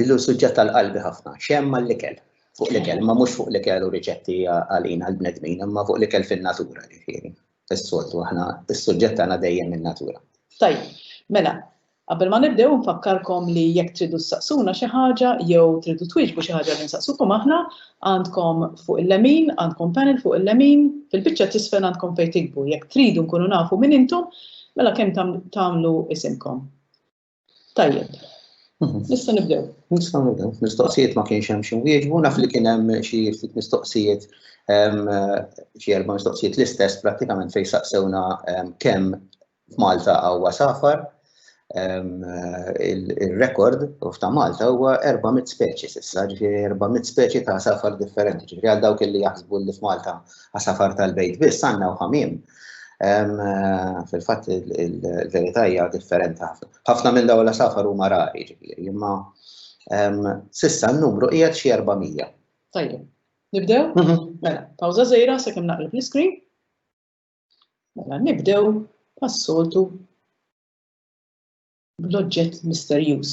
Illu suġġett tal-qalbi ħafna, xem mal-likel, fuq likel, ma mhux fuq likel u riċetti għalina l-bnedmin, imma fuq likel fin-natura ġifieri. Is-soltu aħna is-suġġett tagħna dejjem in-natura. Tajjeb, mela, qabel ma nibdew nfakkarkom li jekk tridu ssaqsuna xi ħaġa jew tridu twieġbu xi ħaġa li nsaqsukom aħna, għandkom fuq il-lemin, għandkom panel fuq il-lemin, fil-biċċa t'isfel għandkom fejn tiktbu. Jekk tridu nkunu nafu min intom, mela kemm tagħmlu isimkom. Tajjeb. Mhm. Nista' nibdew. Nista' nibdew. Mistoqsijiet ma kienx hemm xi wieġbu, naf li kien hemm xi ftit mistoqsijiet xi erba' mistoqsijiet l-istess prattikament fejn saqsewna kemm f'Malta huwa safar il-rekord u f'ta' Malta huwa 400 speċi s'issa, ġifieri 400 speċi ta' safar differenti. Ġifieri għal dawk li jaħsbu li f'Malta għasafar tal-bejt biss għandna u ħamiem Fil-fatt il-verità hija differenti ħafna. Ħafna minn dawn l-asafar huma rari, ġifieri, imma sissa n-numru qiegħed xi 400. Tajjeb. Nibdew? Mhm. Mela, pawża żejra sakemm naqleb l-iskrin. Mela, nibdew pas-soltu bl-oġġett misterjuż.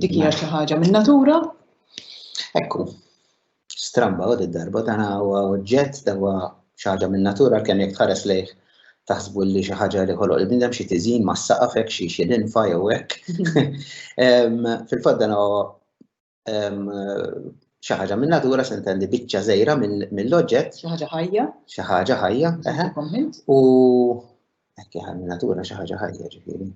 Dik hija xi ħaġa minn natura. Ekku, stramba u darba dan huwa oġġett dan huwa xi ħaġa minn natura kemm jekk tħares lejh taħsbu li xi ħaġa li ħoloq il-bindem xi tiżin ma' saqaf hekk xi xi linfa jew hekk. Fil-fatt dan huwa xi ħaġa minn natura se ntendi biċċa żejra mill-oġġett. Xi ħaġa ħajja. Xi ħaġa ħajja. U Ekki għal natura xi ħaġa ħajja ġifieri.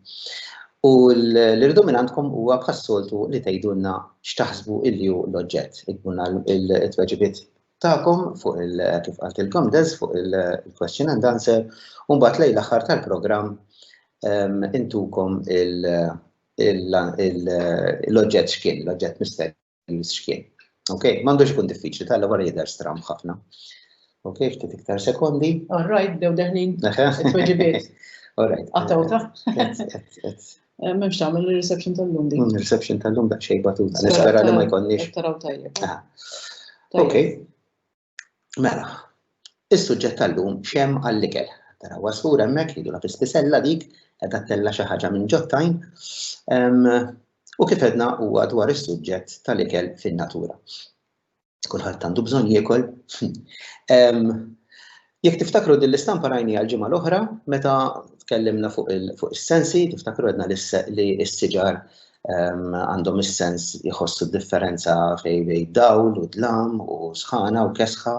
U l-irdu minn għandkom huwa bħas-soltu li tgħidulna x'taħsbu illi hu l-oġġett. Ikbunna il-tweġibiet tagħkom fuq il kif qaltilkom deż fuq il-question and answer u mbagħad lejn l-aħħar tal-programm ehm, intukom l-oġġett x'kien, l-oġġett mistenni. il-xkien. Ok, m'għandux ikun diffiċli, tal wara jidher stram ħafna. Ok, ftit iktar sekondi. All right, dew deħnin. Tweġibiet. All right. Għatta uta. Eh, Memx ta' mill reception tal-lum di. Mm, reception tal-lum da' xej batuta. Nispera li ma jkonniex. Taraw tajjeb. Ah. Ok. Mela, is-suġġett tal-lum xem għall-ikel. Tara wasfur hemmhekk jridu la fispisella dik qed tella xi ħaġa minn ġottajn. U kif edna huwa dwar is-suġġett tal-ikel fin-natura. Kulħadd għandu bżonn jiekol. Jekk tiftakru din l-istampa rajni għal-ġimgħa l-oħra meta tkellimna fuq is-sensi, tiftakru għedna li s-siġar għandhom is-sens jħossu differenza fej bej dawl u dlam u sħana u kesħa.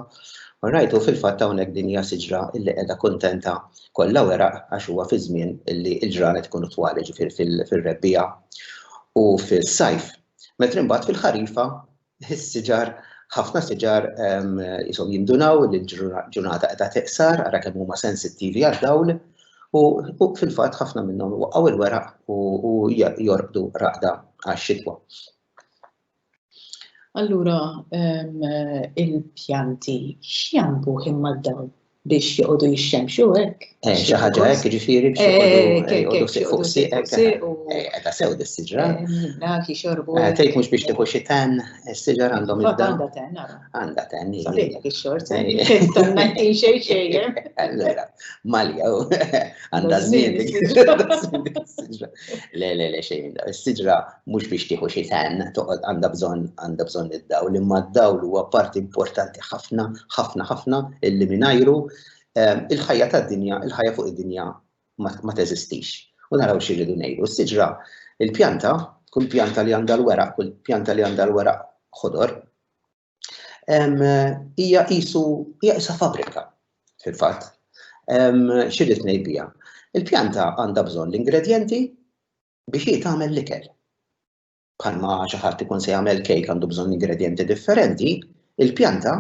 U rajtu fil-fatt hawnhekk din hija siġra illi qiegħda kuntenta kollha weraq għax huwa fi żmien illi l-ġranet ikunu twali ġifier fil-rebbija u fis-sajf. Metri mbagħad fil-ħarifa Is-siġar, ħafna siġar jisom jindunaw li l-ġurnata qiegħda teqsar, ara kemm huma sensittivi għad-dawl, u fil-fatt ħafna minnhom waqgħu l-weraq u jorqdu raqda għax-xitwa. Allura il-pjanti x'jambuh imma d-dawl? biex joqogħdu jixxemxu hekk. Eh, xi ħaġa hekk ġifieri biex eh, eh, joqogħdu siq fuq siq hekk. Qiegħda sew dis-siġra. Dak jixorbu. Tgħid mhux biex tieħu xi ten, is-siġar għandhom id Għandha ten, Għandha ten. Sabiħek ix-xort. Tanna xejn xejn. Allura, malja għandha żmien. Le, le, le xejn. Is-siġra mhux biex tieħu xi tan, toqgħod għandha bżonn għandha bżonn id-dawl, imma d-dawl huwa parti importanti ħafna, ħafna, ħafna illi mingħajru ehm, il-ħajja tad-dinja, il-ħajja fuq id-dinja ma teżistix. U naraw xi rridu ngħidu. Is-siġra, il-pjanta, kull pjanta li għandha l-weraq, kull pjanta li għandha l-weraq ħodor, hija qisu hija qisha fabrika fil-fatt. Xirrid ngħid biha. Il-pjanta għandha bżonn l-ingredjenti biex hi tagħmel l-ikel. Bħalma xi ħadd ikun se jagħmel kejk għandu bżonn ingredjenti differenti, il-pjanta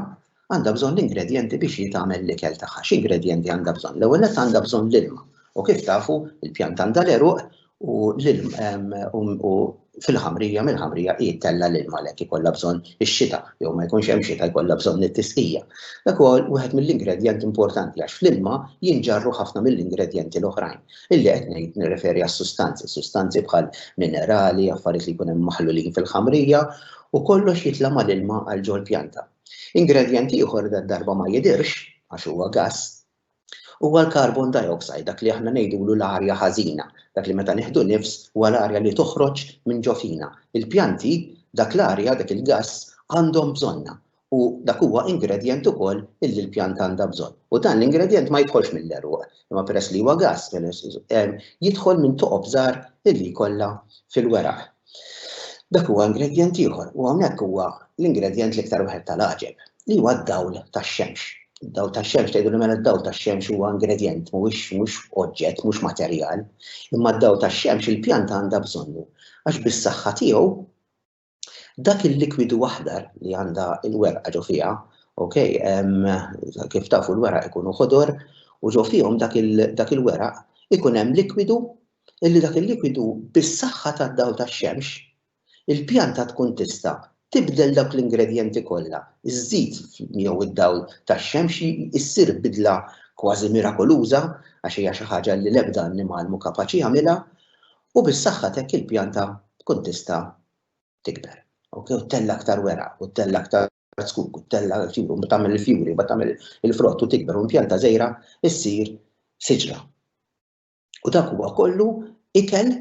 għandha bżonn l-ingredjenti biex hi tagħmel l-ikel tagħha. X'ingredjenti għandha bżonn? L-ewwel nett għandha bżonn l-ilma. U kif tafu, il-pjanta għandha l-eruq u l-ilm u fil-ħamrija mill-ħamrija hi tella l-ilm għalhekk ikollha bżonn ix-xita jew ma jkunx hemm xita jkollha bżonn it-tisqija. Dak ukoll wieħed mill-ingredjenti importanti għax fl-ilma jinġarru ħafna mill-ingredjenti l-oħrajn. Illi qed ngħid nirreferi għas-sustanzi, sustanzi bħal minerali, affarijiet li jkun hemm maħlulin fil-ħamrija u kollox jitla' mal-ilma għal ġol-pjanta. Ingredjent ieħor darba ma jidirx għax huwa gass Huwa l-carbon dioxide dak li aħna ngħidulu l-arja ħażina, dak li meta nieħdu nifs huwa l-arja li toħroġ minn ġo fina. Il-pjanti dak l-arja, dak il-gass għandhom bżonnha u dak huwa ingredjent ukoll illi l-pjanta għandha bżonn. U dan l-ingredjent ma jidħolx mill-għeruq, imma peress li huwa gass, jidħol minn toqob żgħar illi jkollha fil-weraq. Dak huwa ingredjent ieħor u hawnhekk huwa l-ingredjent l-iktar wieħed tal-għaġeb li huwa d-dawl tax-xemx. Id-dawl tax-xemx tgħidu li mela d-dawl tax-xemx huwa ingredjent mhuwiex mhux oġġett, mhux materjal, imma d-dawl tax-xemx il-pjanta għandha bżonnu għax bis-saħħa tiegħu dak il-likwidu aħdar li għandha l-werqa ġo fiha, ok, kif tafu l-weraq ikunu ħodor u ġo fihom dak il-weraq ikun hemm likwidu illi dak il-likwidu bis-saħħa tad-dawl tax-xemx, il-pjanta tkun tista' tibdel dawk l-ingredjenti kollha, iż-żit miegħu id-dawl tax-xemx issir bidla kważi mirakoluża għax hija xi ħaġa li l-ebda annimal mhu kapaċi jagħmilha, u bis-saħħa t'hekk il-pjanta tkun tista' tikber, okay, u ttella' aktar weraq, u ttella' aktar zkuk, u ttella' u tagħmel il-fjuri, u tagħmel il-frott u tikber, u l-pjanta żgħira ssir siġra. U dak huwa kollu ikel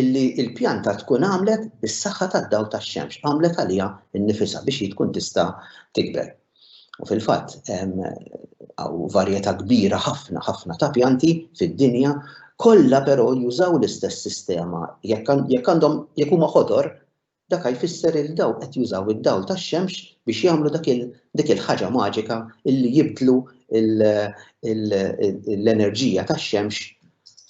illi l-pjanta tkun għamlet bis-saħħa tad-dawl tax-xemx, għamlet għaliha nnifisha biex hi tkun tista' tikber. U fil-fatt hawn varjetà kbira ħafna ħafna ta' pjanti fid-dinja, kollha però jużaw l-istess sistema jekk għandhom jekk huma ħodor Dak a jfisser li dawk qed jużaw id-dawl tax-xemx biex jagħmlu dak il, dik il-ħaġa maġika li jibdlu l, il, l-enerġija tax-xemx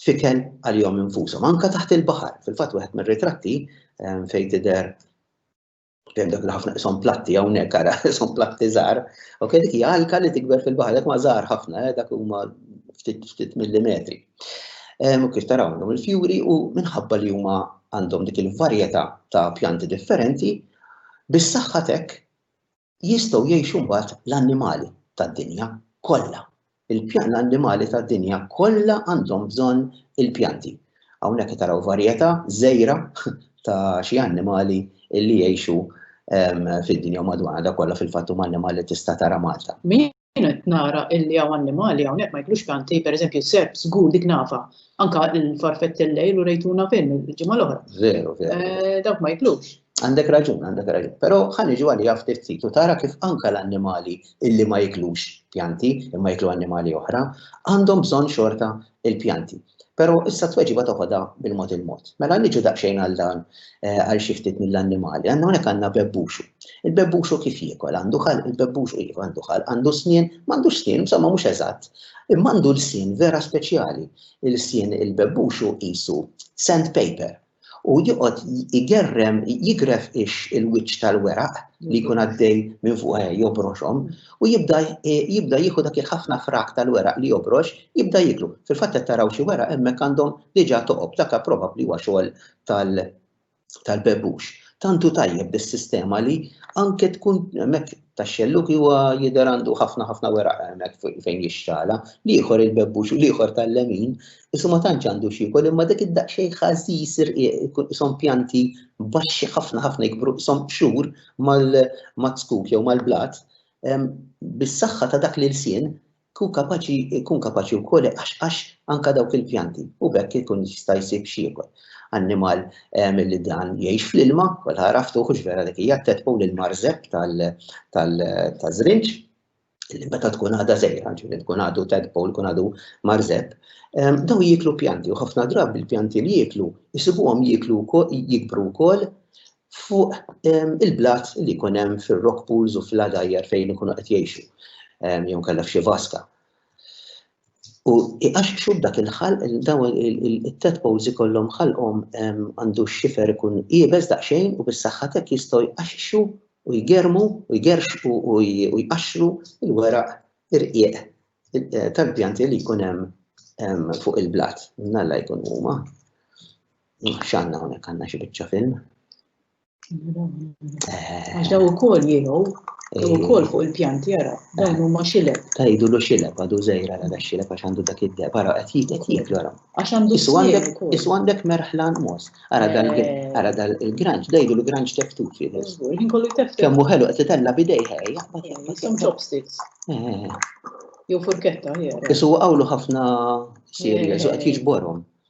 f'ikel għalihom infushom. Anke taħt il-baħar. Fil-fatt wieħed mir-ritratti fejn tidher fejn dak li ħafna qishom platti hawnhekk ara qishom platti żgħar, ok dik hija alka li tikber fil-baħar, dak ma żgħar ħafna, dak huma ftit ftit millimetri. Kif taraw dawn il-fjuri u minħabba li huma għandhom dik il-varjetà ta' pjanti differenti, bis-saħħa t'hekk jistgħu jgħixu mbagħad l-annimali tad-dinja kollha. Il-pjan l-annimali tad-dinja kollha għandhom bżonn il-pjanti. Hawnhekk taraw varjetà żgħira ta' xi annimali li jgħixu fid-dinja madwarna da kollha fil-fatt huma annimali tista' tara Malta. Jien qed nara illi hawn annimali hawnhekk ma jiklux pjanti, pereżempju s-serp, żgur dik nafha. Anke l-farfett illejl urejtuna fin il-ġimgħa l-oħra. Veru, veru. Eh, dawk ma jiklux. Għandek raġun, għandek raġun. Però ħan iġu għalija ftit ftit u tara kif anke l-annimali illi ma jiklux pjanti imma jiklu annimali oħra għandhom bżonn xorta il-pjanti. Però issa tweġiba toħodha bil-mod il-mod. Mela niġu daqsxejn għal dan eh, għal xi ftit mill-annimali. Għandna hawnhekk għandna bebbuxu. Il-bebbuxu kif jiekol? Għandu ħal, il-bebbuxu iva għandu ħal, għandu snien, m'għandux snien, insomma mhux eżatt. Imma għandu l-sien vera speċjali. Il-sien il-bebbuxu qisu sandpaper. u joqgħod igerrem jigref ix il-wiċċ tal-weraq li jkun għaddej minn fuq eh, jobroxhom u jibda eh, jibda jieħu dak il-ħafna frak tal-weraq li jobrox, jibda jiklu. Fil-fatt qed taraw xi weraq hemmhekk għandhom diġà toqob dak probabbli huwa xogħol tal-bebux. Tantu tajjeb bis-sistema li anke tkun hemmhekk tax-xellug huwa jidher għandu ħafna ħafna weraq hemmhekk fejn jixxala, l-ieħor il-bebbux u l-ieħor tal-lemin, isu ma tantx għandu x'jiekol imma dik id-daqsxejn ħażiż irqiq ikun ishom pjanti baxxi ħafna ħafna jikbru ishom qxur mal-mazzkuk jew mal-blat, bis-saħħa ta' dak l-ilsien Kun kapaċi, kun kapaċi wkoll iqaxqax anke dawk il-pjanti u b'hekk ikun jista' jsib x'jiekol. Annimal ehm, li dan jgħix fl-ilma, kol għaraftu hux vera dik hija t-tedpow lil marżeb tal-żrinġ, li meta tkun għadha żejra, ġifieri tkun għadu tadpole, tkun għadu marżeb, ehm, daw jieklu pjanti u ħafna drabi l-pjanti li jieklu jisibuhom jieklu jikbru wkoll fuq ehm, il-blat li jkun hemm fir-rock pools u fl-għadajjar fejn ikunu qed jgħixu ehm, jew kellha f'xi vaska. U għax xub dak il-ħal, daw il-tadpoles ikollhom ħalqhom ehm, għandu xifer ikun iebes daqsxejn u bis-saħħatek jistgħu jqaxxu u jgermu u jgerxqu u jqaxxru il-weraq irqieq eh, tal-pjanti li jkun hemm fuq il-blat. Nalla jkun huma. X'għandna hawnhekk għandna xi biċċa film. Eh. Għax daw ukoll jieħu, daw eh. ukoll fuq il-pjanti jara, dawn eh. huma xileb. Tajdu lu xileb għadu żejra għal xileb għax għandu dak id-deb, ara qed jitek jiek l Għax għandu Isu għandek merħlan mos, ara dal il-granċ, dejdu lu granċ teftufi. Kemmu ħelu qed titella bidej ħej. Some chopsticks. Jew furketta, jew. Isu għawlu ħafna serja, so qed jiġborhom.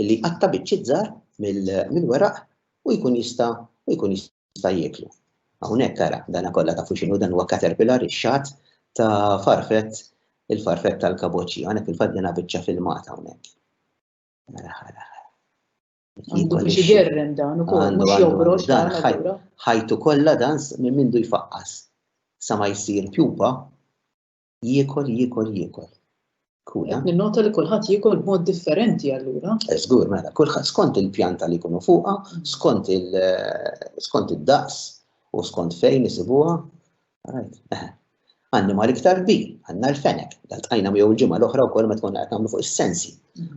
li jqatta' biċċiet żgħar mill-weraq u jkun jista' u jkun jista' jieklu. Hawnhekk ara dana kollha tafu x'inhu dan huwa caterpillar ix-xagħat ta' farfett il-farfett tal-kaboċċi. Hawnhekk il-fatt dana biċċa filmata hawnhekk. Għandu biex igerrem dan ukoll mhux jogrox dan ħajtu kollha dan minn mindu jfaqqas sa ma jsir pjupa Jiekol, jiekol, jiekol. Kula. Ninnota li kulħadd jiekol b'mod differenti allura. Eh, żgur, mela, kulħadd skont il-pjanta li jkunu fuqha, mm. skont il eh, skont id-daqs u skont fejn isibuha. Eh. Għanni ma l-iktar bi, għanna l-fenek, dal-tqajna miegħu l-ġimgħa l-oħra wkoll ma tkun qed nagħmlu fuq is-sensi,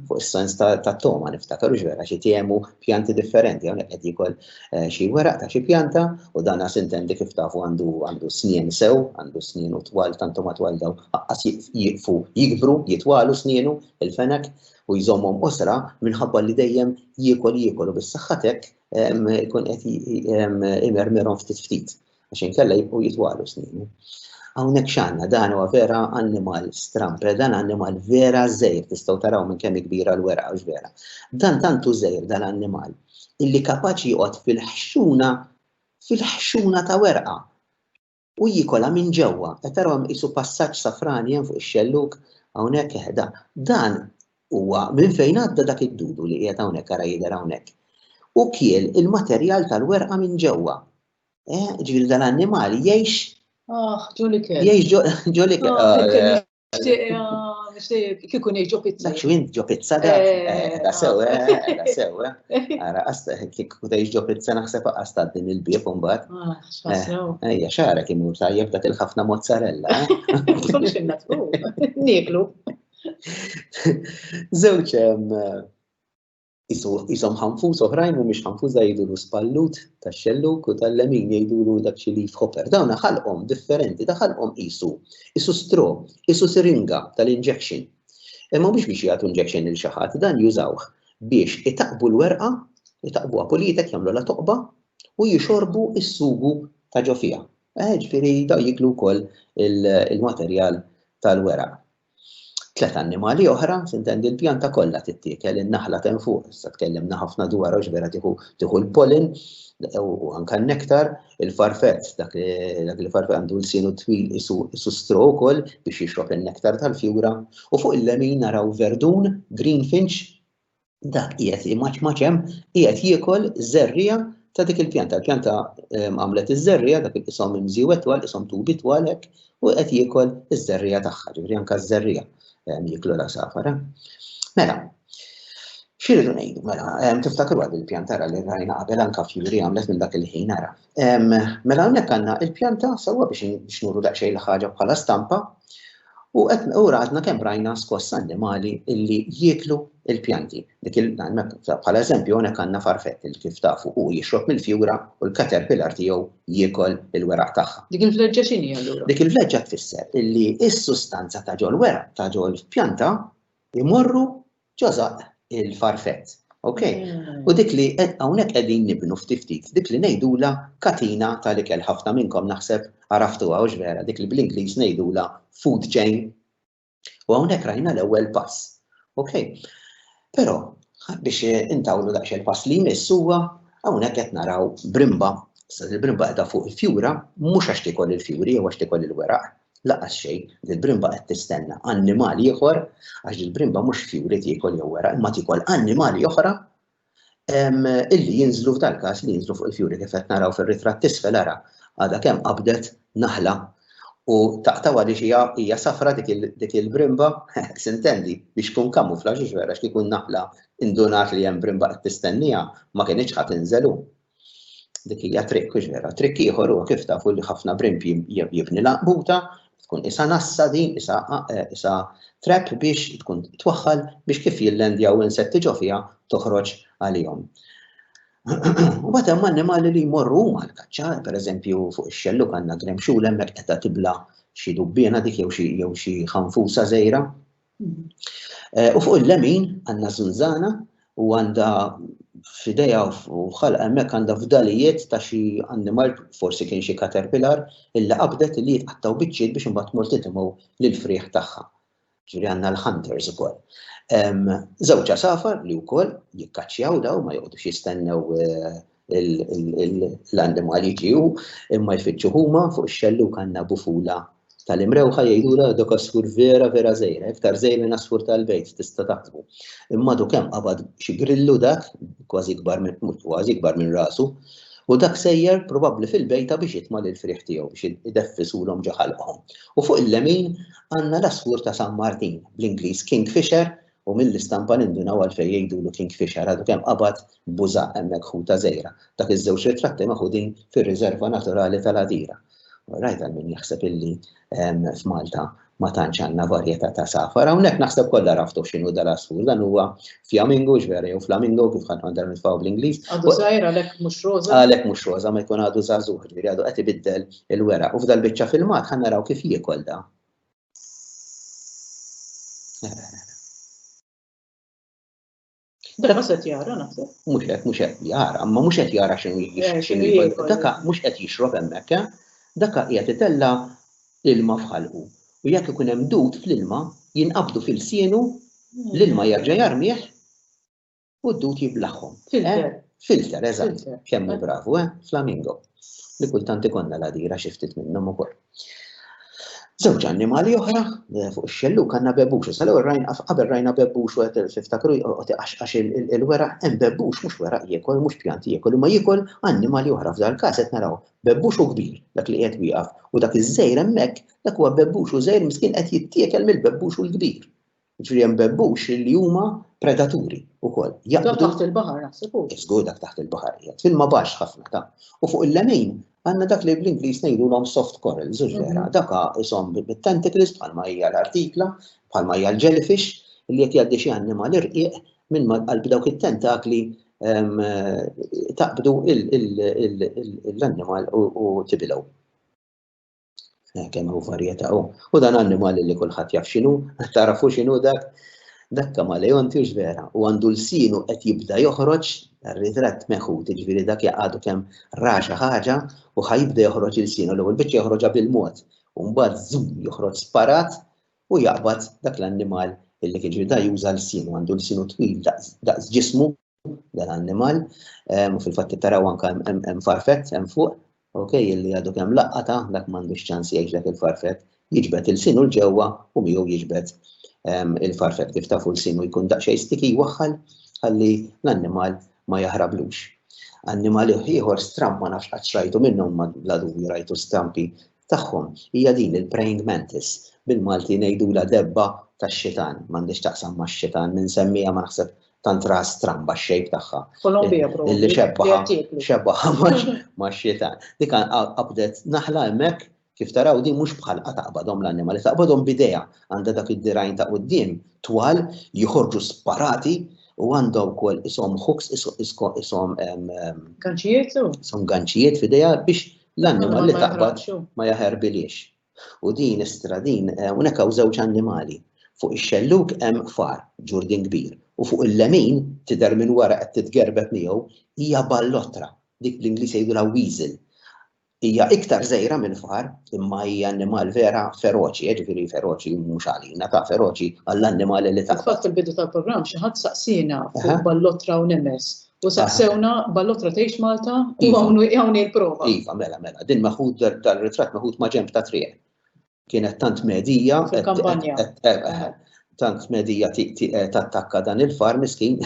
fuq is-sens ta' toma niftakar ux vera xi tiemu pjanti differenti hawnhekk qed jikol eh, xi weraq ta' xi pjanta u dan għas intendi kif tafu għandu għandu snien sew, għandu snien u twal tantu ma twal daw għas jiqfu jikbru jitwalu snienu il-fenek u jżommhom osra minħabba li dejjem jiekol jiekol u bis-saħħatek ikun qed imermirhom ftit ftit. għax inkella jibqgħu jitwalu sninu. Hawnhekk x'għandna dan huwa vera annimal strampe, dan annimal vera żejr tistgħu taraw minn kemm kbira l-weraq għax vera. Dan tantu żejr dan annimal illi kapaċi joqgħod fil-ħxuna fil-ħxuna ta' werqa u jikola minn ġewwa. Qed taraw hemm qisu passaġġ safrani hemm fuq ix-xelluk hawnhekk eħda. Dan huwa minn fejn għadda dak id-dudu li qiegħed hawnhekk ara jidher hawnhekk. U kiel il-materjal tal-werqa minn ġewwa. Eh, ġifieri dan animal jgħix Ah, ġolikel. Jgħix ġolikel. Ah, Nishtiq kikun iġo pizza. Dak xwint ġo pizza da. Eh, eh, da sew, eh, da sew. Għara, għasta, kikku ta' iġo pizza naħseb għasta din il-bib un bat. Ah, Ejja, xara kim ur tajjeb dak il-ħafna mozzarella. Xinna tkun, nieklu. Zewċ, Isom ħanfus oħrajn mhumiex ħanfusa jgħidulu spallut tax-xelluk u tal-lemin jgħidulu dak xi leaf hopper. Dawn ħalqhom differenti, ta' ħalqhom qisu. Isu stro, isu siringa tal-injection. Imma mhux biex jagħtu injection lil xi ħadd, dan jużawh biex itaqbu l-werqa, itaqbuha politek, jagħmlulha toqba u jixorbu s-sugu ta' ġo fiha. Eh, ġifieri daw jiklu wkoll il-materjal tal-weraq. Tliet annimali oħra, tintendi l-pjanta kollha tittiekel, in-naħla t'hemm fuq, issa tkellimna ħafna dwar għax vera tieħu tieħu l-pollen u anke n-nektar, il-farfett, dak li farfett għandu l-sienu twil isu stro wkoll biex jixrob in-nektar tal-fjura, u fuq il-lemin naraw verdun, greenfinch, dak qiegħed jimaċmaċ hemm, qiegħed jiekol żerrija ta' dik il-pjanta. Il-pjanta ehm, għamlet iż-żerrija dak isom imżiwet twal, isom tubi twal hekk, u qed jiekol iż-żerrija tagħha, ġifieri anke ż-żerrija ehm, jieklu la safara. Mela, xiridu ngħidu, mela, ehm, tiftakru għad il-pjanta ra li rajna qabel anke fjuri għamlet minn dak il-ħin ara. Mela hawnhekk għandna il-pjanta sewwa biex nuru daqsxejn l-ħaġa bħala stampa u qed u radna kemm rajna skoss annimali illi jieklu il-pjanti. Dik bħala eżempju hawnhekk għandna farfett il kif tafu u jixrob mill-fjura u l-caterpillar tiegħu jiekol il-weraq tagħha. Dik il-vleġġa x'inhi allura? Dik il-vleġġa tfisser illi s-sustanza ta' ġol-weraq ta' ġol-pjanta jmorru Ġożaq il-farfett. Ok? U dik li hawnhekk qegħdin nibnu ftit ftit, dik li ngħidulha katina tal-ikel. Ħafna minnkom naħseb għaraftuha hux vera, dik li bl-Ingliż ngħidulha food chain. U hawnhekk rajna l-ewwel pass. Ok? Però biex intawlu daqsxejn il-pass li jmiss huwa hawnhekk qed naraw brimba, il-brimba qiegħda fuq il-fjura, mhux għax tikol il-fjuri jew għax tikol il-weraq, L-anqas xejn, dil-brimba qed tistenna annimal ieħor, għax dil-brimba mhux fjuri tiekol jew wera, imma tiekol annimali oħra illi jinżlu f'dal każ li jinżlu fuq il-fjuri kif qed naraw fir-ritratt tisfel ara għadha kemm qabdet naħla u taqtawa li xija hija safra dik il-brimba, sintendi, biex tkun kamufla xiex vera x'kikun naħla indunat li hemm brimba qed tistenniha ma kienitx ħadd inżelu. Dik hija triq kuġnera. Triq ieħor huwa kif tafu li ħafna brimp jibni laqbuta, tkun isa nassa din, isa, eh, isa trap biex tkun twaħħal biex kif jillendjaw insetti ġo fiha toħroġ għalihom. U bat hemm annimali li jmorru huma l-kaċċa, pereżempju fuq ix-xellu għandna gremxul hemmhekk qed tibla xi dubbiena dik jew xi jew xi ħanfusa żejra. Eh, u fuq il-lemin għandna zunzana u għandha f'ideja u ħalqa hemmhekk għandha fdalijiet ta' xi annimal, forsi kien xi caterpillar, illi qabdet li jitqattaw biċċiet biex imbagħad mort titimgħu lill-frieħ tagħha. Ġifieri għandna l-hunters ukoll. Żewġ safar li wkoll jikkaċċjaw daw ma joqgħodux jistennew eh, l-annimal jiġiju imma jfittxu huma fuq ix-xellu kanna bufula tal-imrewħa jgħidula dok asfur vera vera żejra, iktar żejr minn asfur tal-bejt tista' taħsbu. Imma du kemm qabad xi grillu dak kważi kbar minn kważi kbar minn rasu u dak sejjer probabbli fil-bejta biex jitma' lil frieħ tiegħu biex ideffisulhom ġo ħalqhom. U fuq il-lemin għandna l-asfur ta' San Martin, bl-Ingliż Kingfisher, U mill-istampa nindunaw għalfejn jgħidulu kingfisher, għadu kemm qabad buża' hemmhekk ħu ta' żejra. Dak iż-żewġ ritratti maħudin fir-riżerva naturali tal-Għadira. Orajt għal min jaħseb illi f'Malta ma tantx għandna varjetà ta' safar, hawnhekk naħseb kollha raftu x'inhu dal-għasfur, dan huwa fjamingu x'vera jew flamingo kif ħadd għandha nitfgħu bl-Ingliż. Għadu żgħir għalhekk mhux roża. Għalhekk mhux roża ma jkun għadu żagħżugħ, ġifieri għadu qed ibiddel il-weraq u f'dal-biċċa filmat ħa naraw kif jiekol da. Bella mhux qed jara naħseb. Mhux qed mhux qed jara, ma mhux qed jara x'inhu eh, x'inhu jgħid. Daka mhux qed jixrob hemmhekk, eh? daka qiegħed itella ilma f'ħalqu. U jekk ikun hemm dud fl-ilma, jinqabdu fil-sienu, hmm. l-ilma jerġa' jarmih u d-dut jiblaħħom. Filter. Eh? Filter, eżatt. Kemm bravu, eh? Flamingo. Li kultant ikonna la dira xi ftit minnhom ukoll. Żewġ annimali oħra eh, fuq ix-xellu kanna bebbux, sal rajn qabel rajna bebbux u qed tiftakru għax il-wera hemm bebbux mhux wera jiekol, mhux pjanti jiekol, imma jiekol annimali oħra f'dal każ qed naraw bebbux u kbir dak li qed wieqaf u dak iż-żejr hemmhekk dak huwa bebbux u żejr miskin qed jittiekel mill-bebbux u l-kbir. Ġifieri hemm bebbux li huma predaturi wkoll. Dak taħt il-baħar naħseb hu. Żgur dak taħt il-baħar qiegħed filma baxx ħafna ta'. U fuq il-lemin għandna dak li bl-Ingliż ngħidulhom soft coral, żur mhm. vera, dak ishom bit-tentacles bħalma hija l-artikla, bħalma hija l-jellyfish, li qed jgħaddi xi annimal irqiq minn qalb dawk it-tentakli ehm, taqbdu l-annimal u tibilgħu. Eh, kemm hu varjetà hu. U dan annimali li kulħadd jaf x'inhu, tarafu x'inhu dak, dak kamaleon tiġ vera, u għandu l-sinu qed jibda joħroġ ritratt meħu, tiġviri dak jaqadu kemm raxa ħaġa u ħajibda joħroġ il-sinu, l-ewwel biċċa joħroġha bil-mod, u mbagħad zum joħroġ sparat u jaqbad dak l-annimal illi kien ġviri da juża l-sinu, għandu l-sinu twil daqs ġismu dan annimal, u fil-fatt taraw anka hemm farfet hemm fuq, ok, illi għadu kemm laqqata, dak m'għandux ċans jgħix dak il-farfet, jiġbed il-sinu l-ġewwa u miegħu jiġbed il-farfet kif tafu l-sinu jkun daqsxejn stiki waħħal ħalli l-annimal ma jaħrablux. Annimal ieħor stramp ma nafx qatt rajtu minnhom bla dubju rajtu stampi tagħhom hija din il-praying mantis, bil-Malti ngħidulha debba tax-xitan, m'għandhiex x'taqsam max-xitan, min semmiha ma naħseb tant raha stramba x-shape tagħha. Kolombija probabbli. Illi xebbaha, xebbaha max-xitan. Dik qabdet naħla hemmhekk kif taraw din mhux bħalqa taqbadhom l-annimali, taqbadhom b'idejha għandha dak id-dirgħajn ta' quddiem twal joħorġu sparati u għandha wkoll ishom hooks ishom ganċijiet, ishom ganċijiet f'idejha biex L-annimal li taqbad ma jaħerbiliex. U din istradin eh, hawnhekk hawn żewġ annimali. Fuq ix-xellug hemm far, ġurdin kbir, u fuq il-lemin tidher minn wara qed titgerbet miegħu hija ballotra, dik bl-Ingliż jgħidulha weasel. Hija iktar żejra minn far, imma hija annimal vera feroċi, eh, ġifieri feroċi mhux għalina ta' feroċi għall-annimali li taqbad. Fatt il-bidu tal-programm xi ħadd saqsina fuq ballotra u nemes U saqsewna ballotra tgħix Malta u iva. hawn il-prova. Iva, mela, mela, din maħud dal-ritratt maħud ma' ġemp ta' triq. Kienet tant medija. Fil-kampanja. Tant medija tattakka dan il-far miskin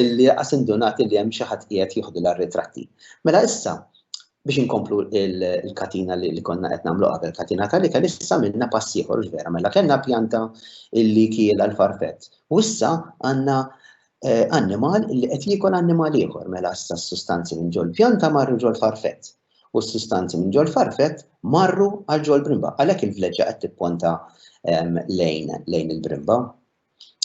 illi qas indunat li hemm xi ħadd qiegħed jieħdu l-ritratti. Mela issa, biex inkomplu il-katina li konna qed nagħmlu qabel katina tal ikel issa minna pass ieħor vera mela kellna pjanta illi kiel għal farfett. U issa għandna annimal li qed jiekol annimal ieħor mela issa s-sustanzi minn ġol pjanta marru ġol farfett u s-sustanzi minn ġol farfett marru għal ġol brimba. Għalhekk il-vleġġa qed tipponta ehm, lejn lejn il-brimba.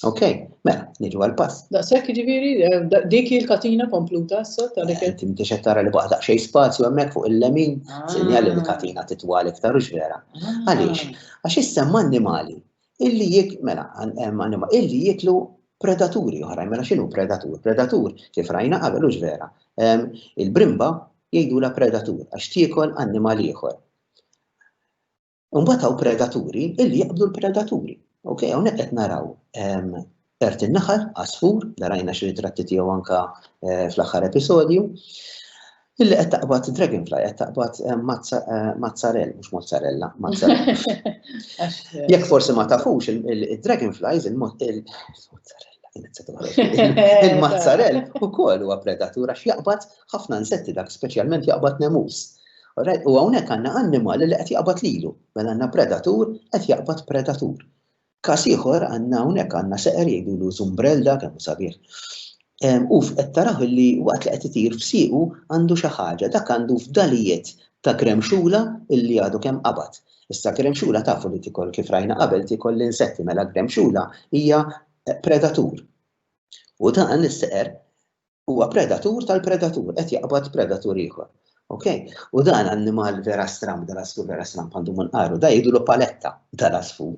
Ok, mela, niġu għal-pass. Da, sekk ġiviri, ehm, dik il-katina kompluta issa ta' dik. Eh, inti mtiex tara li baqa daqsxejn spazju hemmhekk fuq il-lemin, ah. sinjali li katina titwal iktar u vera. Ah. Għaliex? Għax issa annimali illi jik, mela, anima, illi jiklu predaturi oħrajn, mela xinu predatur? Predatur, kif rajna qabel ux vera, il-brimba jgħidu la predatur, għax tiekol annimal ieħor. Unbataw predaturi illi jaqbdu l-predaturi. Ok, għonek qed naraw Ċert in-naħal, għasfur, li rajna xi ritratti tiegħu anke fl-aħħar episodju, illi qed taqbad dragonfly, qed taqbad mazzarell, mhux mozzarella, mazzarell. Jekk forsi ma tafux il-dragonflies, il-mozzarella. Il-mazzarell u koll huwa predatura x'jaqbad ħafna nsetti dak speċjalment jaqbad nemus. U hawnhekk għandna annimali li qed jaqbad lilu, mela għandna predatur qed jaqbad predatur. Każ ieħor għandna hawnhekk għandna seqer jgħidulu zumbrelda kemm hu sabiħ. U qed taraw li waqt li qed itir f'siequ għandu xi ħaġa, dak għandu fdalijiet ta' gremxula illi għadu kemm qabad. Issa gremxula tafu li tikol kif rajna qabel tikol l-insetti mela gremxula hija predatur. U dan is-seqer huwa predatur tal-predatur, qed jaqbad predatur ieħor. Ok? U dan annimal vera stram, dal asfur vera stram għandu mun qaru, da jidulu paletta dal asfur.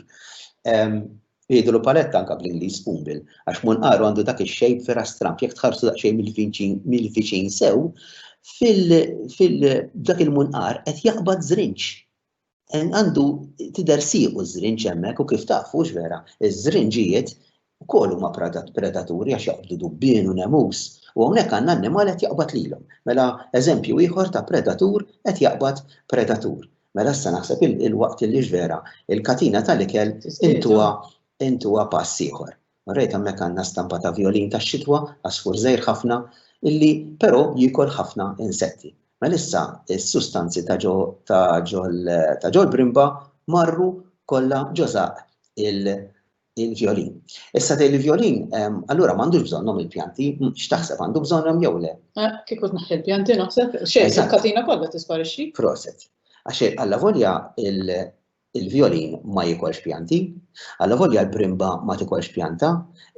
Jidulu paletta anka bl-Inglis pumbil, għax mun qaru għandu dak il-xejb vera stram, jek tħarsu daqxej mill-viċin sew, fil-dak il-mun qar qed jaqbad zrinċ. Għandu tidher siequ ż-żrinġ hemmhekk u kif taf, hux vera, iż-żrinġijiet ukoll huma predaturi għax jaqbdu dubbien u nemus u hawnhekk għandna annimal qed jaqbad lilhom. Mela eżempju ieħor ta' predatur qed jaqbad predatur. Mela issa naħseb il-waqt li hux vera, il-katina tal-ikel intuha pass ieħor. Rejt hemmhekk għandna stampa ta' vjolin tax-xitwa, għasfur żgħir ħafna, illi però jiekol ħafna insetti. Melissa s-sustanzi ta' ġo ta' ġol ta' ġol brimba marru kollha ġo żaqq il il-vjolin. Issa tgħid li vjolin ehm, allura m'għandux bżonnhom il-pjanti, x'taħseb għandu bżonnhom jew le? Eh, kieku tnaħħi l-pjanti naħseb xejn il-katina kollha tisparixxi. Proset. Għax alla volja Il-vjolin ma jiekolx pjanti, allavolja l-primba ma tikolx pjanta,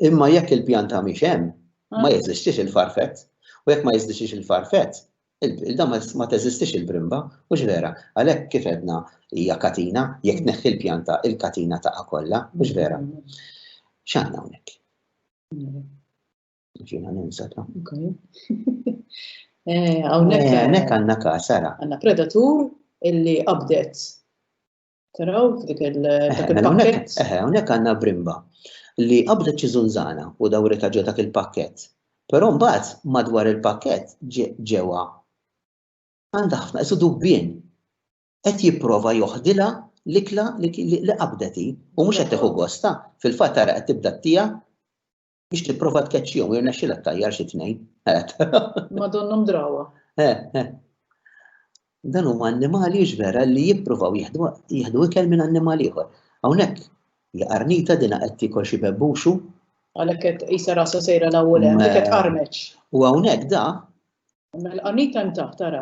imma jekk il-pjanta mhix hemm, ma jeżistix il-farfett, u jekk ma jeżdixix il-farfett, il-da ma teżistix il-primba, mhux vera? Għalhekk kif għedna hija katina, jekk tneħħi l-pjanta, il-katina taqa' kollha, mhux vera? X'għandna hawnhekk? Ġina ninsa ta. Għawnek. Eh, Għawnek għanna kasara. Għanna predatur illi abdet. Taraw, dik eh, il-pakket. Għawnek eh, għanna brimba li qabdet xi zunzana u dawrita ġo dak il-pakket. Però mbagħad madwar il-pakket ġewwa għandha ħafna isu dubbien qed jipprova joħdilha l-ikla li qabdeti u mhux qed tieħu gosta fil-fatt ara qed tibda tija biex tipprova tkeċċihom jirnexxilha ttajjar xi tnejn. Madonnhom drawa. Dan huma annimali vera li jippruvaw jieħdu ikel minn annimal ieħor. Hawnhekk li qarnita dina qed tikol xi bebbuxu. Għalhekk qed qisha rasa sejra l-ewwel hemm qed qarmeċ. U hawnhekk da. Mela qarnita hemm taħt tara.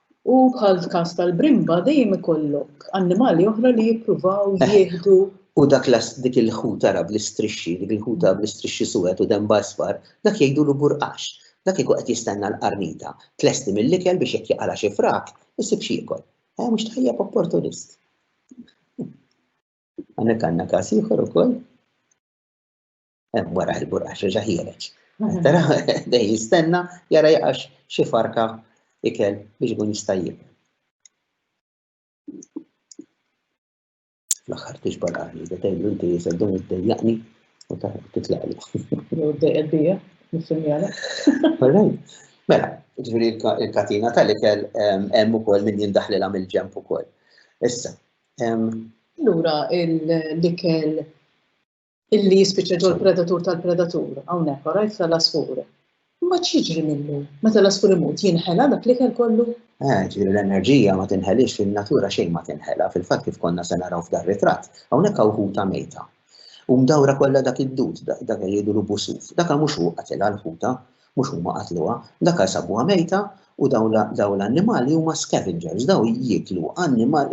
U bħall-każ tal-brimba dejjem ikollok annimali oħra li jippruvaw jieħdu. U dak dik il-ħut ara bl-istrixxi, dik il-ħuta bl-istrixxi suwed u denba isfar, dak jgħidulu burqax. Dak kieku qed jistenna l-qarnita tlesti mill-ikel biex jekk jaqala' xi frak, isib x'jiekol. Eh, mhux tajjeb opportunist. Għandek għandna każ ieħor ukoll. hemm wara il-burqax reġa' ħiereġ. Mhm. Tara dej jistenna jara jaqax xi farka ikel biex ikun jista' jib. Fl-aħħar tiġbal għali, da tgħidlu inti jisel dun id-dejjaqni u ta' titlaqli. Jew d-dejjaq bija, nissimjala. Mela, ġviri il-katina tal-ikel hemm ukoll min jindaħlilha mill-ġemp ukoll. Issa. Lura l-ikel Illi jispiċċa ġol predatur tal-predatur, hawnhekk, orajt tal-asfur. Imma x'jiġri minnu? Meta l-asfur imut, jinħela dak li kell kollu? Eh, ġifieri l-enerġija ma tinħelix fin-natura xejn ma tinħela, fil-fatt kif konna se naraw f'dar ritratt, hawnhekk hawn ħuta mejta. U mdawra kollha dak id-dud, dak jgħidulu busuf, dak mhux hu qatilha l-ħuta, Mhux huma qatluha, l-akar sabuha mejta u dawn l-annimali huma scavengers, dawn jieklu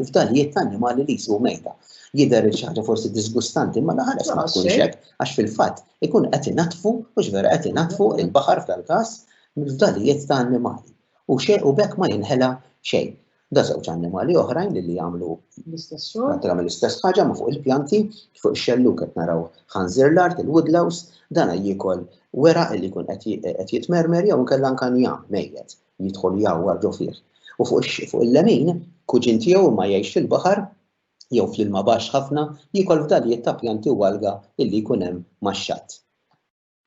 fdalijiet ta' annimali li jsibu mejta. Jidher li xi ħaġa forsi diżgustanti imma l-ħares ma tkunx hekk għax fil-fatt ikun qed inaddfu, mhux vera, qed inaddfu l-baħar f'dal-każ mill-fdalijiet ta' annimali u b'hekk ma jinħela xejn. Da żewġ annimali oħrajn li jagħmlu prattikament l-istess ħaġa ma fuq il-pjanti, fuq ix-xelluk qed naraw ħanżir l-art, il-woodlouse, dana jiekol wera li jkun qed jitmermer jew inkella anke njam mejjet jidħol jgħawwar ġo fih. U fuq il-lemin, kuġin tiegħu ma jgħix fil-baħar jew fl-ilma baxx ħafna jiekol fdalijiet ta' pjanti u alga illi jkun hemm max-xatt.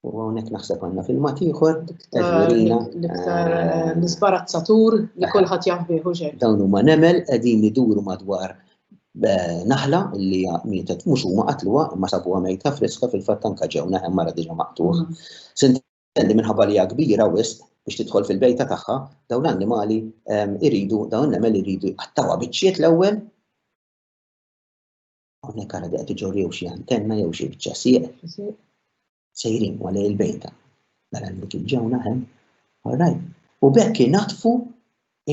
U għonek naħseb għanna filmat ieħor, L-iktar eh, nisbarazzatur li kolħat jafbi uġer. Dawn huma nemel qegħdin iduru madwar eh, naħla li mietet mhux huma qatluha ma sabuha mejta friska fil-fatt anka ġew naħem mara diġà maqtuħ. Mm. Sintendi minħabba li kbira wisq biex tidħol fil-bejta tagħha, dawn l-annimali eh, iridu, dawn nemel iridu qattawa biċċiet l-ewwel Hawnhekk ara qed iġorrew xi antenna jew xi biċċa sieq, sejrin u għalej il-bejta. Mela li kien ġew naħem, orrajt. U bekk inatfu,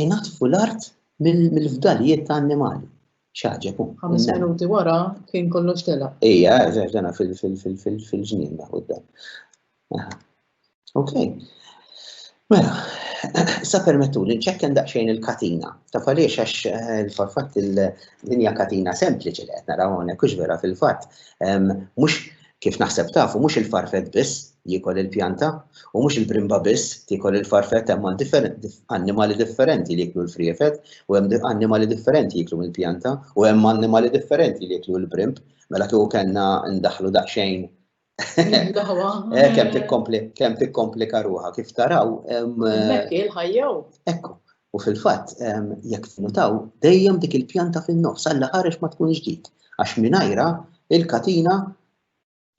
inatfu l-art mill-fdalijiet ta' annimali. ċaġeb. Ħames minuti wara kien kollox tela. Ija, ġena fil-ġnien da' Ok. Mela, sa permettu li nċekken daqxejn il-katina. Ta' faliex għax eh, il-fatt il-linja katina sempliċi li għetna rawone, kux vera fil-fatt, mux kif naħseb tafu, mux il-farfet biss jikol il-pjanta, u mux il-brimba biss jikol il-farfet hemm annimali differenti li jiklu l-friefet, u hemm annimali differenti jiklu il-pjanta, u hemm annimali differenti li jiklu l-brimb, mela kieku kellna ndaħlu daqxejn Eh, kem tikkompli, kem tikkompli karuħa, kif taraw. Mekk eh, il-ħajjaw. Ekku, u fil-fat, jek nutaw, dejjem dik il-pjanta fin-nofs, għalla ħarex ma tkun ġdid, għax minajra il-katina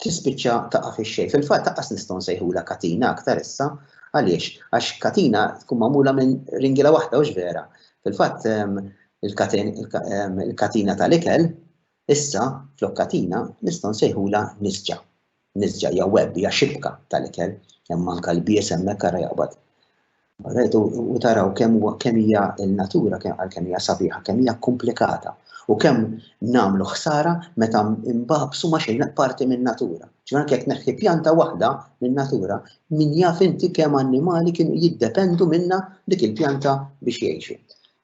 tispiċċa taqa' fix-xejn. Fil-fatt taqqas nistgħu nsejħula katina aktar issa għaliex għax katina tkun magħmula minn ringila waħda u vera. Fil-fatt il-katina tal-ikel Issa, flok katina, nistgħu nsejħulha nisġa. Nisġa hija web, hija xibka tal-ikel, hemm anke l-bies hemmhekk ara jaqbad. Rajtu u taraw kemm huwa kemm hija l-natura kemm għal kemm hija sabiħa, kemm hija komplikata u kemm nagħmlu ħsara meta imbabsu ma xejn parti min-natura. Ġifier anke jekk neħħi pjanta waħda min-natura, min jaf inti kemm annimali kienu jiddependu minna dik il-pjanta biex jgħixu.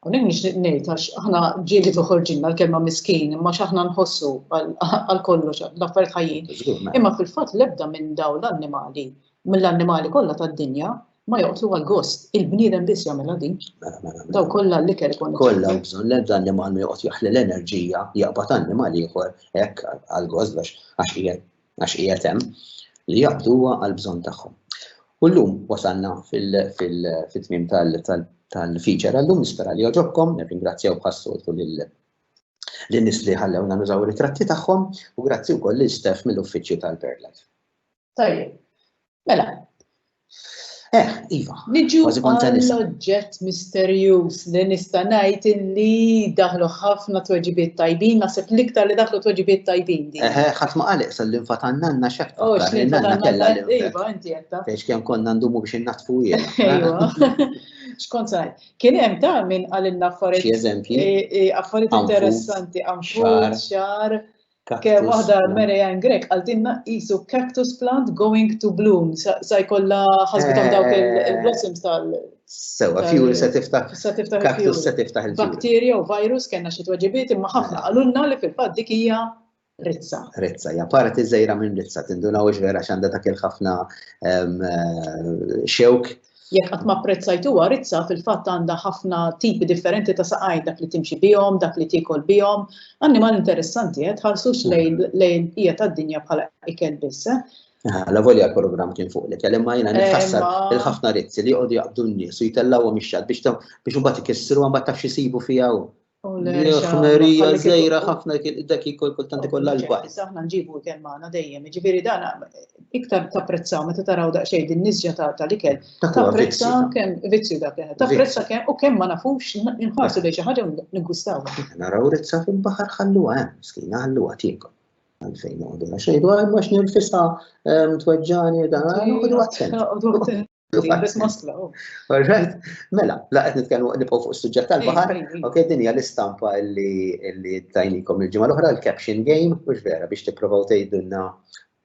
Hawnhekk nixtieq ngħid għax aħna ġieli toħorġilna l-kelma miskin imma x'aħna nħossu għal kollox l-affarijiet ħajjin. Imma fil-fatt l-ebda minn dawn l-annimali, mill-annimali kollha tad-dinja, ma joqtlu għal gost, il-bniedem biss jagħmilha din. Mela, mela, mela. Daw kollha li kell ikun. Kollha bżonn l-ebda annimal ma joqgħod jaħli l-enerġija jaqbad annimal ieħor hekk għal gost għax qiegħed għax qiegħed hemm, li jaqbduha għall-bżonn tagħhom. U llum wasalna fit-tmiem tal-feature għallum nispera li joġobkom, nirringrazzjaw bħas-soltu lin-nies li ħallewna nużaw ritratti tagħhom u grazzi wkoll lil Steph mill-uffiċċju tal-Birdlife. Tajjeb. Mela. Eh, iva. Niġu għall-oġġett misterjuż li nista' ngħid illi daħlu ħafna tweġibiet tajbin, naħseb l-iktar li daħlu tweġibiet tajbin. Eh, eh, ħadd ma qalek sal l-infat għannanna xek. Oh, x'infanna kellha l Iva, inti jetta. Biex kemm konna ndumu biex innaħtfu jiena. Iva. Xkont saj, kien hemm ta' minn qalilna affarijiet. Xi eżempji? Eh, affarijiet interessanti, għamxar. Ke waħda Mary Ann Grek għaltinna qisu cactus plant going to bloom. Sa jkollha ħasbitom dawk il-blossoms tal. Sewa, fjuri se tiftaħ. Se tiftaħ cactus se tiftaħ il-fjuri. Bakterja u virus kellna xi tweġibiet imma ħafna qalulna li fil-fatt dik hija Rizza. Rizza, ja parti żejra minn Rizza, tindunaw vera x'għandha dak il-ħafna xewk Jekk qatt ma apprezzajtuha, rizza fil-fatt għandha ħafna tipi differenti ta' saqajn, dak li timxi bihom, dak li tiekol bihom. Annimal interessanti, eh? Tħarsux lejn lejn hija tad-dinja bħala ikel biss, eh? La volja l-programm kien fuq l-ikel, imma jiena nitħassar il-ħafna rizzi li jqogħdu jaqbdu n-nies u jtellgħuhom ix-xatt biex biex imbagħad ikissru mbagħad taf xi jsibu fiha hu. Ħmerija żejra ħafna dak ikol kultant ikollha l-bajt. Aħna nġibu kemm magħna dejjem, jiġifieri dan iktar tapprezzaw meta taraw daqsxejn din nisġa tal-ikel. Tapprezza kemm vizzju dak li tapprezza kemm u kemm ma nafux inħarsu lejn xi ħaġa niggwistaw. Naraw rizza fil-baħar ħalluha hemm, miskina ħalluha tiekol. Għalfejn noqogħdu xejn dwar ma x'nirfisha tweġġani dan noqogħdu attenti. Alright, mela, la qed nitkellmu nibqgħu fuq is-suġġett tal-baħar. Ok, din hija l-istampa li tajnikom il-ġimgħa l-oħra l-caption game, mhux vera biex tipprovaw tgħidulna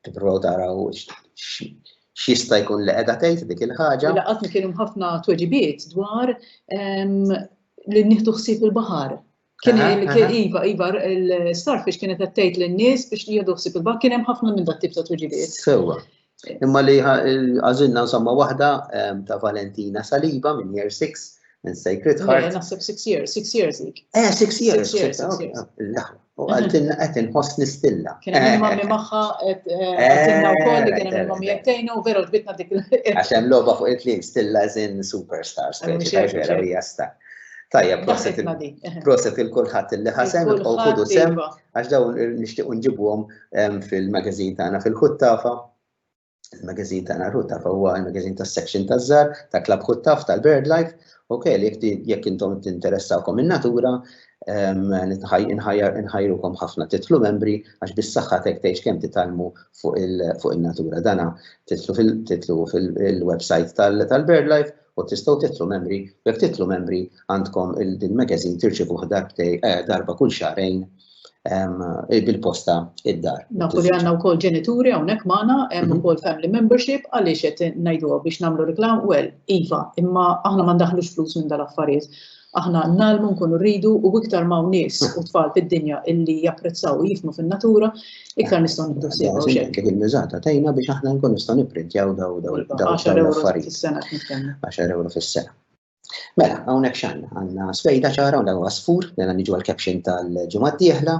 tipprovaw taraw x'jista' jkun li qiegħda tgħid dik il-ħaġa. Mela qatt kienu ħafna tweġibiet dwar li nieħdu ħsieb il-baħar Kien iva, iva, l-starfish kienet qed tgħid lin-nies biex jieħdu ħsieb il-baħar kien hemm ħafna minn dat-tip ta' tweġibiet. Sewwa. Imma li għażilna insomma waħda ta' Valentina Saliba minn Year 6 minn Sacred Heart. Naħseb 6 years, 6 years dik. Eh, 6 years. U għaltinna qed inħoss nistilla. Kien hemm mammi magħha qed għaltinna wkoll li kien hemm mammi jettejna u veru ġbitna dik. Għax hemm logħba fuq il-kliem stilla żin superstars. Vera hija star. Tajja, proset proset il-kulħadd li ħasem u ħudu sem iva. għax dawn nixtieq nġibuhom ehm, fil-magazin tagħna fil-ħuttafa. Il-magazin tagħna l-ħuttafa huwa il-magazin tas-section taż-żar ta' Club Ħuttaf tal-Bird Life. Ok, jekk intom tinteressawkom in-natura, ehm, nħajrukom ħafna titlu membri għax bis-saħħa tek tgħix kemm titalmu fuq in-natura dana titlu fil-website tal-Bird Life U tistgħu titlu membri, jekk titlu membri għandkom il-din magazine tirċivuh darbtej eh, darba kull xarejn Eh, bil-posta id-dar. Nafu li għanna u kol ġenituri għonek maħna, għem u kol family membership, għalix għet najdu biex namlu reklam, well, Iva, imma aħna mandaħlux flus minn dal-affarijiet. Aħna ngħallmu, nkunu rridu u iktar m'hawn nies u tfal fid-dinja illi japprezzaw u jifhmu fin-natura, iktar nistgħu nieħdu sew hawn xejn. Kif il-miżata tgħinna biex aħna nkun nistgħu nipprintjaw daw daw daw l-affarijiet. 10 euro fis-sena. Mela, hawnhekk x'għandna? Għandna sfejda ċara u dawa sfur, dan mela niġu għall-caption tal-ġimgħa d-dieħla,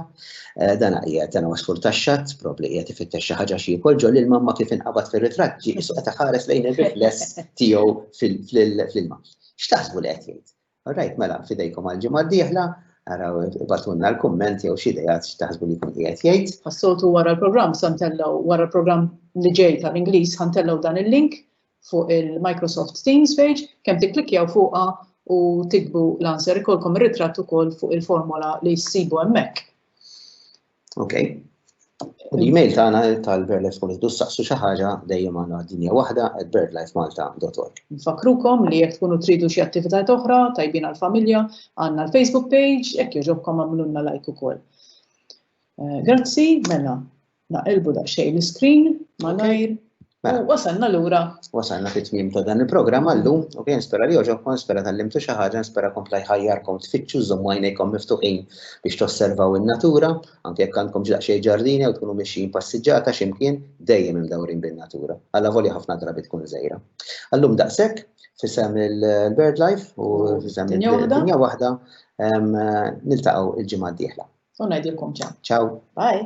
eh, dan qiegħed dan huwa sfur tax-xatt, probbli qiegħed ifittex xi ħaġa xi jkun ġol ilma ma kif inqabad fir-ritratt ġi isu qed ħares lejn ir-rifless tiegħu fl-ilma. X'taħsbu li qed jgħid? Alright, mela, fidejkom għal-ġimgħa d-dieħla, araw ibatunna l-kumment jew xi idejat x'taħsbu li jkun qiegħed jgħid. Għas-soltu wara l-programm sa ntellgħu wara l-programm li ġej tal-Ingliż ħa ntellgħu dan il-link fuq il-Microsoft Teams page kemm tikklikkjaw fuqha u tikbu l-answer ikollkom ir-ritratt ukoll fuq il-formola li ssibu hemmhekk. Ok. U l-email tagħna tal-BirdLife Community saqsu xi ħaġa dejjem għandna dinja waħda at birdlifemalta.org. Nfakrukom li jekk tkunu tridu xi attivitajiet oħra tajbin għall-familja għandna l-Facebook page jekk jogħġobkom għamlulna like ukoll. Eh, grazzi, mela, naqilbu daqsxejn l-iskrin malajr. Mela. Wasalna lura. Wasalna fit tmiem ta' dan il-programm għallum, u kien spera li oġobkom, spera tal-limtu xi ħaġa, spera kompla jħajjarkom tfittxu żommu għajnejkom miftuħin biex tosservaw in-natura, anke jekk għandkom xejn ġardini jew tkunu mixjin passiġġata x'imkien dejjem imdawrin bin-natura. Alla volja ħafna drabi tkun żejra. Għallum daqshekk fisem il-Bird Life u fisem il-Dinja waħda niltaqgħu il-ġimgħa d-dieħla. U ngħidilkom ċaw. Ċaw. Bye.